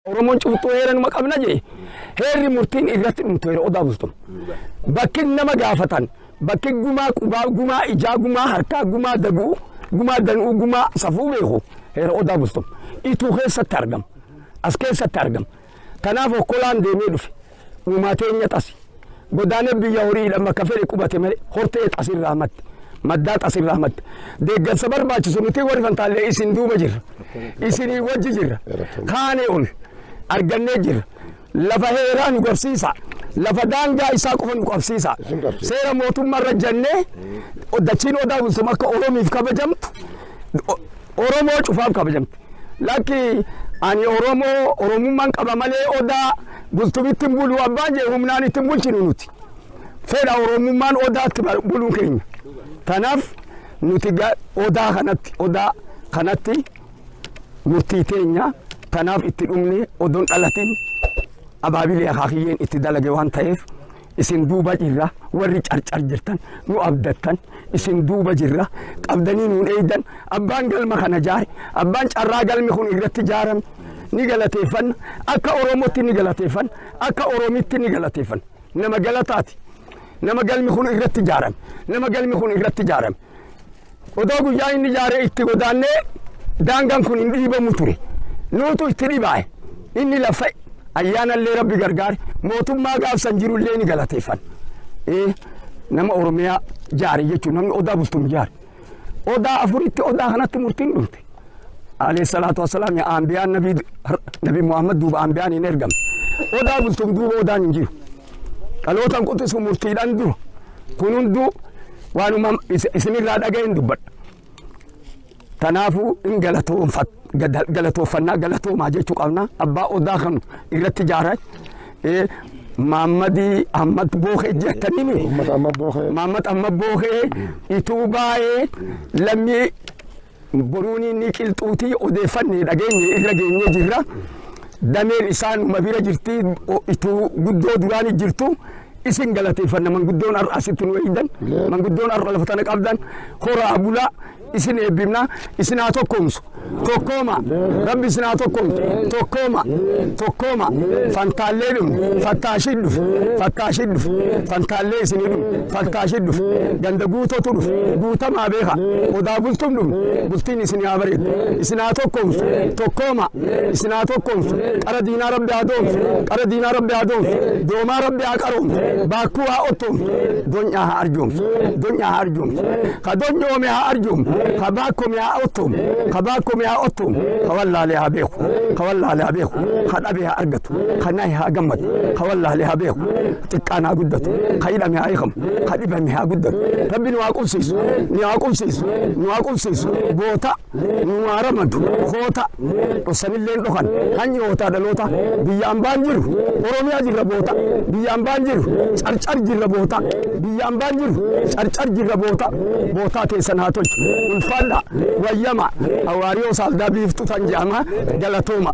Oromoon cuftuu heera numa qabna jee heerri murtiin irratti dhumtu heera odaa bultum. Bakki nama gaafatan bakki gumaa qubaa gumaa ijaa gumaa harkaa gumaa daguu gumaa danuu gumaa safuu beeku heera odaa bultum. Ituu keessatti argama. As keessatti argama. Kanaaf okkolaan deemee dhufe. Uumaa teenya xasi. Godaaneen biyya horii dhamma ka fedhe qubate male hortee xasi irraa madde. Maddaa xasi irraa madde. Deeggarsa barbaachisu nuti warri fantaallee isin duuba jirra. Isinii wajji jirra. Kaanee ol argannee jirra. Lafa heeraa nu qabsiisa. Lafa daangaa isaa qofa nu qabsiisa. Seera mootummaa irra jannee dachiin odaa bultum akka Oromoof kabajamtu Oromoo cufaaf kabajamti. Lakki ani Oromoo Oromummaan qaba malee odaa bultumitti hin bulu abbaan jee humnaan itti hin bulchinu nuti. Fedha Oromummaan odaatti buluu keenya. Kanaaf nuti odaa kanatti odaa kanatti murtii teenya kanaaf itti dhumne odoon dhalatin abaabilee akaakiyyeen itti dalage waan ta'eef Isin duuba jirra, worri carcar jirtan, nu abdattan, isin duuba jirra, qabdanii nuun eeydan, abbaan galma kana jaare, abbaan carraa galmi kun irratti jaarame, ni galateeffanna, akka Oromootti ni galateeffanna, akka Oromitti ni galateeffanna. Nama galataati. Nama galmi kun irratti jaarame. Nama galmi kun irratti jaarame. Odoo guyyaa inni ijaare itti godaannee daangaan kun hin dhiibamu ture. Nuutu itti dhibaa'e. Inni laffa'e. Ayyaanallee Rabbi gargaare. Mootummaa gaafsan jirullee ni galateeffan. Ee, nama Oromiyaa jaare jechuun namni odaa bultum jaare. Odaa afuritti odaa kanatti murtiin dhumte. Alayhi salaatu wassalaam yaa ambiyaan nabii nabii Muhammad duuba ambiyaan hin ergamne. Odaa bultum duuba odaan hin jiru. Dhalootan quxisu murtiidhaan dura. Kun hunduu waanuma is- isinirraa dhaga'een dubbadha. Kanaafuu hin galatoonfat- gada- galatoofannaa galatoomaa jechuu qabna. Abbaa odaa kan irratti jaaran Maammadi Ahmad Bookee jettaniimi. Uummata amma bookee. Maammad Ahmad Bookee ituu baay'ee lammii boruun inni qilxuutii odeeffannee dhageenye irra geenye jirra. Dameen isaanuma bira jirti ituu guddoo duraan jirtu isin galateeffanna manguddoon har'a asitti nu eegdan manguddoon har'a lafa tana qabdan horaa bulaa isin eebbifna isin haa tokkoomsu tokkooma rabbi isin haa tokkoomsu tokkooma tokkooma fantaallee dhufne fattaashii dhufe fattaashii dhufe fantaallee isinii dhufe fattaashii dhufe ganda guutotu dhufe guutamaa beeka odaa bultum dhufne bultiin isin haa bareedu isin haa tokkoomsu tokkooma isin haa tokkoomsu qara diinaa rabbi haa doomsu qara diinaa rabbi haa doomsu doomaa rabbi haa qaroomsu baakkuu haa ottoomsu donyaa haa arjoomsu donyaa haa arjoomsu Ka donyoome haa arjoomu, ka baakkome haa ottoomu, ka baakkome haa ottoomu, ka wallaale haa beeku, ka wallaale haa beeku, ka dhabe haa argatu, ka nahe haa gammadu, ka wallaale haa beeku, xiqqaan haa guddatu, ka hidhame haa hiikamu, ka dhibame haa guddatu. Rabbi nu haa qubsiisu, nu haa qubsiisu, nu haa qubsiisu. Goota. nuu haa ramadu koota dhossanilleen dhokan kan dhihootaa dhaloota biyya ambaan jiru oromiyaa jirra boota biyya ambaan jiru carcar jirra boota biyya ambaan jiru carcar jirra boota bootaa keessan haa tolchu ulfaadha wayyama awaariyoo saaldaa biiftuu kan jedhama galatooma.